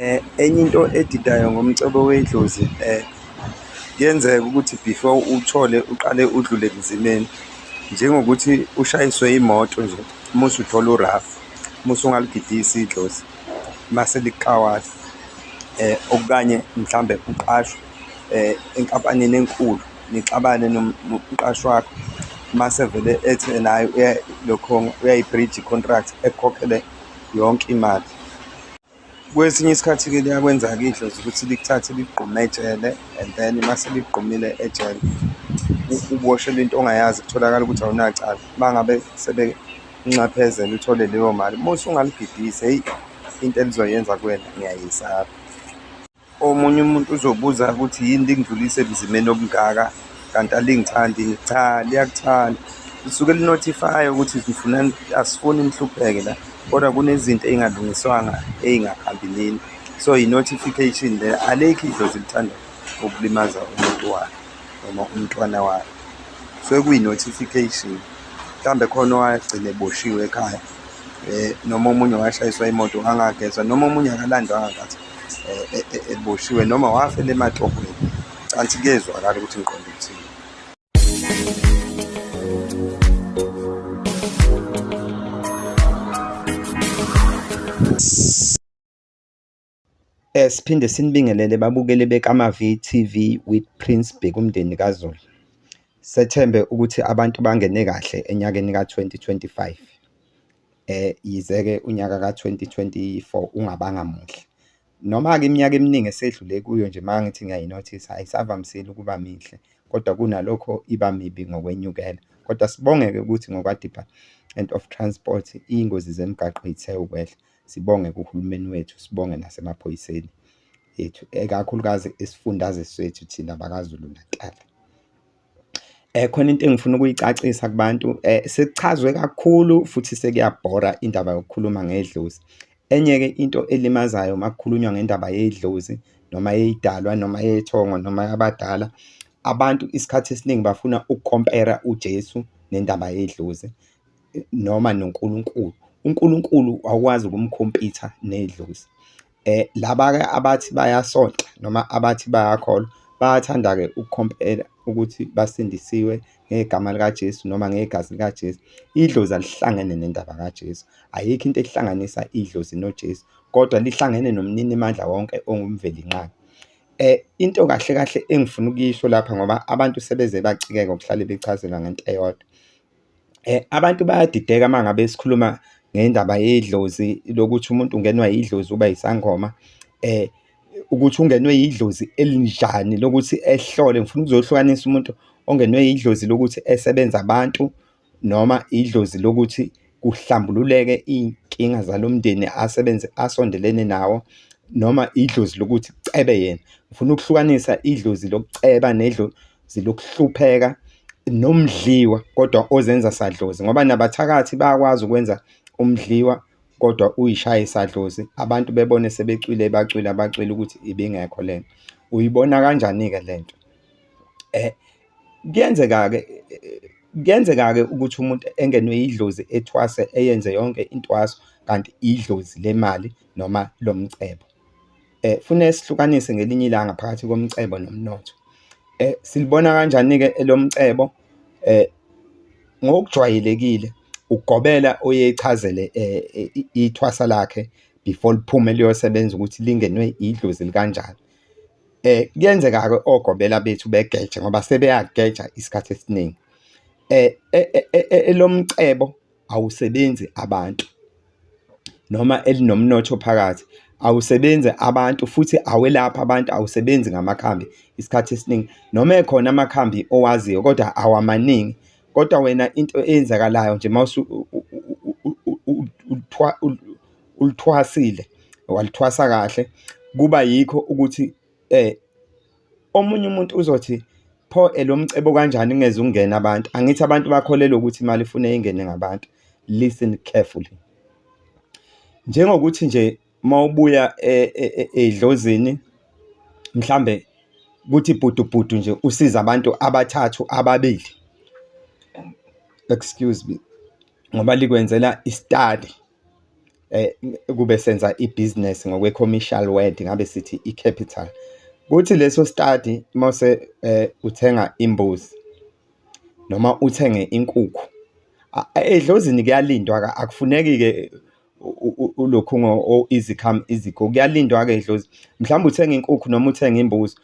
Eh, enye into edidayo ngomcebo wedlozi eh, kuyenzeka ukuthi before uthole uqale udlule ebunzimeni njengokuthi ushayiswe imoto nje uma usuthola urafu uma usungaligidisi idlozi mase likawala eh okanye mhlambe uqashwe eh enkampanini enkulu nixabane nomqashi wakho mase vele ethi naye uya lokho uyayibridge contract ekhokhele yonke imali kwesinye isikhathi ke liyakwenza kidlo ukuthi likuthathe ligqume ejele and then mase ligqumile ejele uboshelwe into ongayazi kutholakala ukuthi awunacala bangabe sebenxephezela uthole leyo mali musu ungaligidise hey into elizoyenza kuwena ngiyayisaba Omunye umuntu uzobuza ukuthi yini lingidlulise ebunzimeni obungaka kanti alingithandi cha liyakuthanda lisuke linothifaya ukuthi ngifuna asifuni nihlupheke la kodwa kunezinto ey'ngalungiswanga ey'ngahambi nini so yi-notification le alikho idlozi lithanda ukulimaza umuntu wakhe noma umntwana wakhe so kuyi-notification mhlawumbe khona owagcina eboshiwe ekhaya um noma omunye washayiswa imoto angagezwa noma omunye akalandwanga kathi eh, eh, eboshiwe noma wafela ematohweni canti kuyezwakala ukuthi ngiqonda ukuthini Eh, siphinde sinibingelele babukeli bekaMaVTV with Prince Bheki umndeni kaZulu. Sethembe ukuthi abantu bangene kahle enyakeni ka-2025. Yize-ke unyaka ka-twenty twenty-four ungabanga muhle. Noma-ke iminyaka eminingi esedlule kuyo nje uma ngithi ngiyayinothisa ayisavamisile ukuba mihle, kodwa kunalokho iba mibi ngokwenyukela. Kodwa sibonge-ke ukuthi ngokwa-Department of Transport, iy'ngozi zemigaqo zithe ukwehla. Sibonge kuhulumeni wethu, sibonge nasemaphoyiseni ethu, ikakhulukazi isifundazwe sethu thina bakaZulu-Natal. Khona into engifuna ukuyicacisa kubantu sekuchazwe kakhulu futhi sekuyabhora indaba yokukhuluma ngedlozi. Enye-ke into elimazayo uma kukhulunywa ngendaba yedlozi noma yey'dalwa noma yey'thongo noma yabadala, abantu isikhathi esiningi bafuna uku-compare-a uJesu nendaba yedlozi noma noNkulunkulu. UNkulunkulu awukwazi ukumkhompitha nedlozi. Laba-ke abathi bayasonta noma abathi bayakholwa, bayathanda-ke ukukhompela ukuthi basindisiwe ngegama likaJesu noma ngegazi likaJesu. Idlozi alihlangene nendaba kaJesu. Ayikho into ehlanganisa idlozi noJesu, kodwa lihlangene noMninimandla wonke onguMvelinqangi. Into kahle kahle engifuna ukuyisho lapha ngoba abantu sebeze bacikeka ukuhlale bechazelwa ngento eyodwa. Abantu bayadideka uma ngabe sikhuluma ngendaba yedlozi lokuthi umuntu ungenwa yidlozi uba yisangoma. Ukuthi ungenwe yidlozi elinjani lokuthi ehlole, ngifuna ukuzohlukanisa umuntu ongenwe yidlozi lokuthi esebenza abantu noma idlozi lokuthi kuhlambululeke iy'nkinga zalo mndeni asebenze, asondelene nawo noma idlozi lokuthi kucebe yena. Ngifuna ukuhlukanisa idlozi lokuceba . zilokuhlupheka nomdliwa kodwa ozenza sadlozi ngoba nabathakathi bayakwazi ukwenza umdliwa kodwa uyishaye sadlozi abantu bebone sebecwile bacwila bacwila ukuthi ibingekho lena uyibona kanjani ke lento eh kuyenzeka ke kuyenzeka ke ukuthi umuntu engenwe idlozi ethwase eyenze yonke intwaso kanti idlozi lemali noma lomcebo Fune sihlukanise ngelinye ilanga phakathi komcebo nomnotho. Silibona kanjani-ke elomcebo? Ngokujwayelekile ugobela oye echazele ithwasa lakhe before liphume liyosebenza ukuthi lingenwe idlozi elikanjani. Kuyenzeka-ke ogobela bethu begeje ngoba sebeyageja isikhathi esiningi. Elomcebo awusebenzi abantu noma elinomnotho phakathi awusebenzi abantu futhi awelaphi abantu awusebenzi ngamakhambi isikhathi esiningi noma ekhona amakhambi owaziyo kodwa awamaningi kodwa wena into eyenzakalayo nje uma ulithwasile walithwasa kahle kuba yikho ukuthi Omunye umuntu uzothi pho lo mcebo kanjani kungeze kungene abantu? Angithi abantu bakholelwa ukuthi imali ifuneka ingene ngabantu? Listen carefully. Njengokuthi nje uma ubuya edlozini mhlawumbe kuthi bhudu bhudu nje usize abantu abathathu, ababili, excuse me, ngoba likwenzela i-study. kube senza ibhizinisi ngokwe-commercial word ngabe sithi i-capital. Kuthi leso sitadi uma uthenga imbuzi noma uthenge inkukhu, edlozini kuyalindwa-ke akufuneki-ke ulokhu izikhama izikho, kuyalindwa-ke edlozini. Mhlawumbe uthenga inkukhu noma uthenga imbuzi,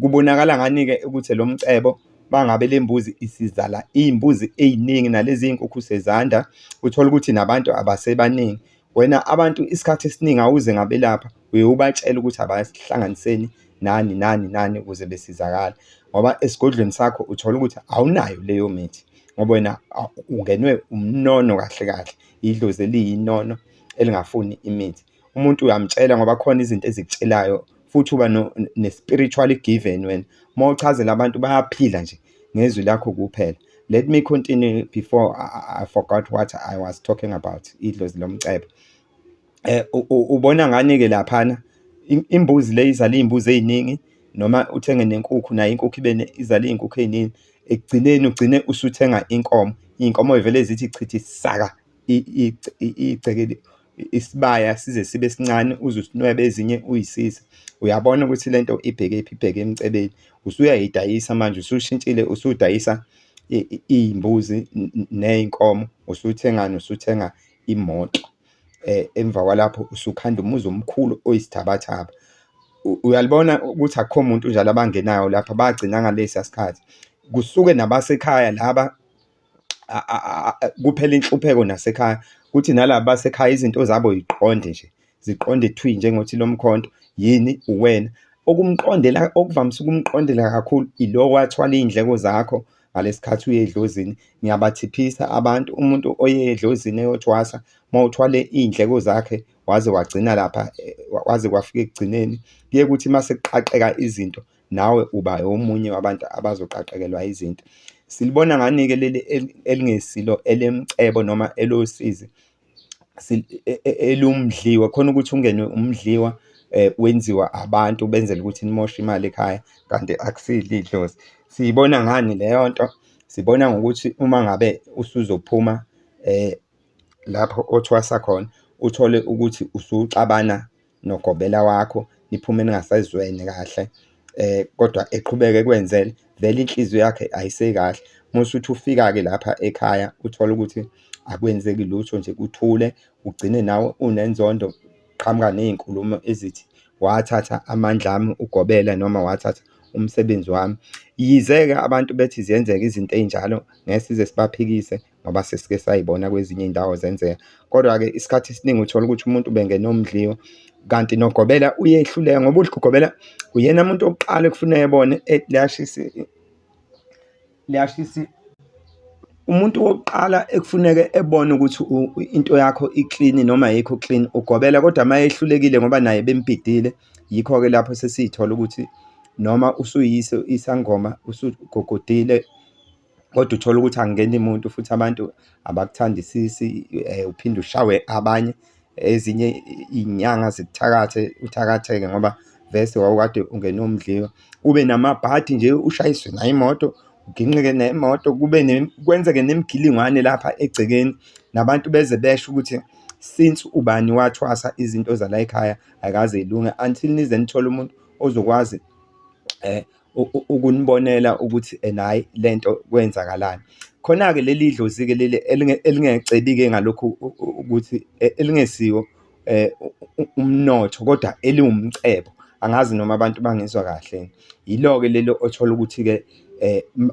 kubonakala ngani-ke ukuthi lo mcebo. Uma ngabe le mbuzi isizala iy'mbuzi ey'ningi nalezi y'nkukhu sezanda, uthole ukuthi nabantu abasebaningi. Wena abantu isikhathi esiningi awuze ngabelapha, uye ubatshele ukuthi abahlanganiseni nani nani nani ukuze besizakale. Ngoba esigodlweni sakho uthole ukuthi awunayo leyo mithi ngoba wena ungenwe umnono kahle kahle, idlozi eliyinono elingafuni imithi. umuntu uyamtshela ngoba khona izinto ezikutshelayo futhi uba ne-spiritual given wena. Uma uchazela abantu bayaphila nje ngezwi lakho kuphela. Let me continue before I, I forgot what I was talking about idlozi lomcebo. Eh ubona ngani ke laphana imbuzi le izala izimbuzi eziningi noma uthenge nenkukhu nayo inkukhu ibe izala izinkukhu eziningi ekugcineni ugcine usuthenga inkomo inkomo ivele zithi chithi saka igcekeli isibaya size sibe sincane uze usinwebe ezinye uyisize uyabona ukuthi lento ibheke phi ibheke emcebeni usuyayidayisa manje usushintshile usudayisa iy'mbuzi ney'nkomo usuthengani usuthenga imoto um emva kwalapho usukhanda umuzi omkhulu oyisithabathaba uyalibona ukuthi akukho muntu njalo abangenayo lapha bagcina ngalesa sikhathi kusuke nabasekhaya laba kuphela inhlupheko nasekhaya kuthi nalaba basekhaya izinto zabo yiqonde nje ziqonde thwi njengothi lo mkhonto yini uwena okumqondela okuvamise ukumqondela kakhulu ilo wathwala iy'ndleko zakho ngalesikhathi uye edlozini ngiyabathiphisa abantu umuntu oye edlozini eyothwasa uma uthwale iy'ndleko zakhe waze wagcina lapha kwaze kwafika ekugcineni kuye kuthi uma sekuqaqeka izinto nawe uba omunye wabantu abazoqaqekelwa izinto. Silibona ngani-ke leli elingesilo elemcebo noma elosizi e, e, elumdliwa khona ukuthi ungenwe umdliwa eh, wenziwa abantu benzela ukuthi nimoshe imali ekhaya kanti akusile idlozi siyibona ngani leyo nto sibona ngokuthi uma ngabe usuzophuma eh lapho othwasa khona uthole ukuthi usuxabana nogobela wakho niphume ningasezwene kahle kodwa eqhubeke ekwenzele vele inhliziyo yakhe ayisekahle. Uma usuthi ufika-ke lapha ekhaya uthole ukuthi akwenzeki lutho nje kuthule, ugcine nawe unenzondo, qhamuka ney'nkulumo ezithi wathatha amandla ami ugobela noma wathatha umsebenzi wami. Yize-ke abantu bethi ziyenzeka izinto ey'njalo ngeke size sibaphikise ngoba sesike sayibona kwezinye iy'ndawo zenzeka. Kodwa-ke isikhathi esiningi uthola ukuthi umuntu ubengena umdliwa, kanti nogobela uyehluleka ngoba ugobela uyena muntu okuqala ekufuna ebone liyashisa liyashisa umuntu wokuqala ekufuneke ebone ukuthi into yakho iklini noma yikho clean ugobela kodwa uma ehlulekile ngoba naye bembhidile yikho-ke lapho sesiyithola ukuthi noma usuyise isangoma usugogodile. kodwa uthole ukuthi angeni muntu futhi abantu abakuthandisisi, eh, uphinde ushawe abanye. Ezinye iy'nyanga zikuthakathe, uthakatheke ngoba vese wawukade ungene umdliwa. Ube namabhadi nje, ushayiswe nayo imoto, uginqike nemoto, kube ne, kwenzeke nemigilingwane lapha egcekeni, nabantu beze besho ukuthi since ubani wathwasa izinto zala ekhaya ayikaze yilunge until nize nithole umuntu ozokwazi, eh. ukunibonela ukuthi ena hhayi le nto kwenzakalani. Khona-ke leli dlozi-ke leli elingecebile ngalokhu ukuthi elingesiwo umnotho kodwa eliwumcebo, angazi noma abantu bangizwa kahle. Yilo-ke leli othola ukuthi-ke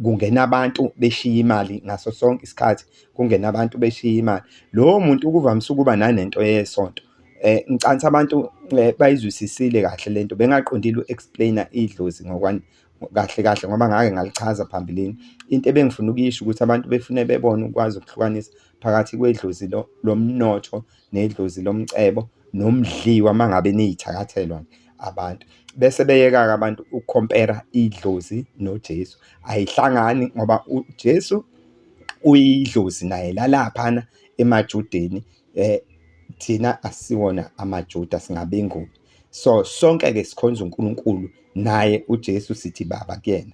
kungena abantu beshiye imali ngaso sonke isikhathi, kungena abantu beshiye imali. Lowo muntu kuvamise ukuba nanento yesonto. Ngicansa abantu bayizwisisile kahle le nto, bengaqondile uku-explain-a idlozi kahle kahle ngoba ngake ngalichaza phambilini. Into ebengifuna ukuyisho ukuthi abantu befune bebone ukwazi ukuhlukanisa phakathi kwedlozi lomnotho nedlozi lomcebo nomdliwa uma ngabe niyithakathelwa abantu. Bese beyeka-ke abantu ukukhompera idlozi noJesu. Ayihlangani ngoba uJesu uyidlozi naye lalaphana emaJudeni, eh thina asiwona amaJuda singabenguni so sonke ke sikhonza uNkulunkulu naye uJesu sithi baba kuyena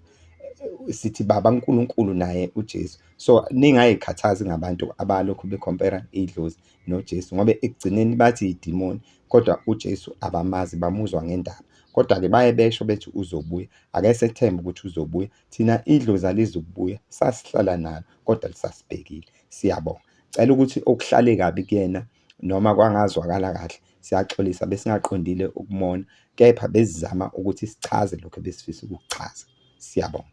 sithi baba uNkulunkulu naye uJesu so ningayikhathazi ngabantu abalokhu becompare idlozi noJesu ngoba ekugcineni bathi idimoni kodwa uJesu abamazi bamuzwa ngendaba kodwa-ke baye besho bethi uzobuya ake sethembe ukuthi uzobuya thina idlozi alizukubuya sasihlala nalo kodwa lisasibhekile siyabonga Cela ukuthi okuhlale kabi kuyena noma kwangazwakala kahle, siyaxolisa besingaqondile ukumona kepha besizama ukuthi sichaze lokho ebesifisa ukukuchaza. Siyabonga.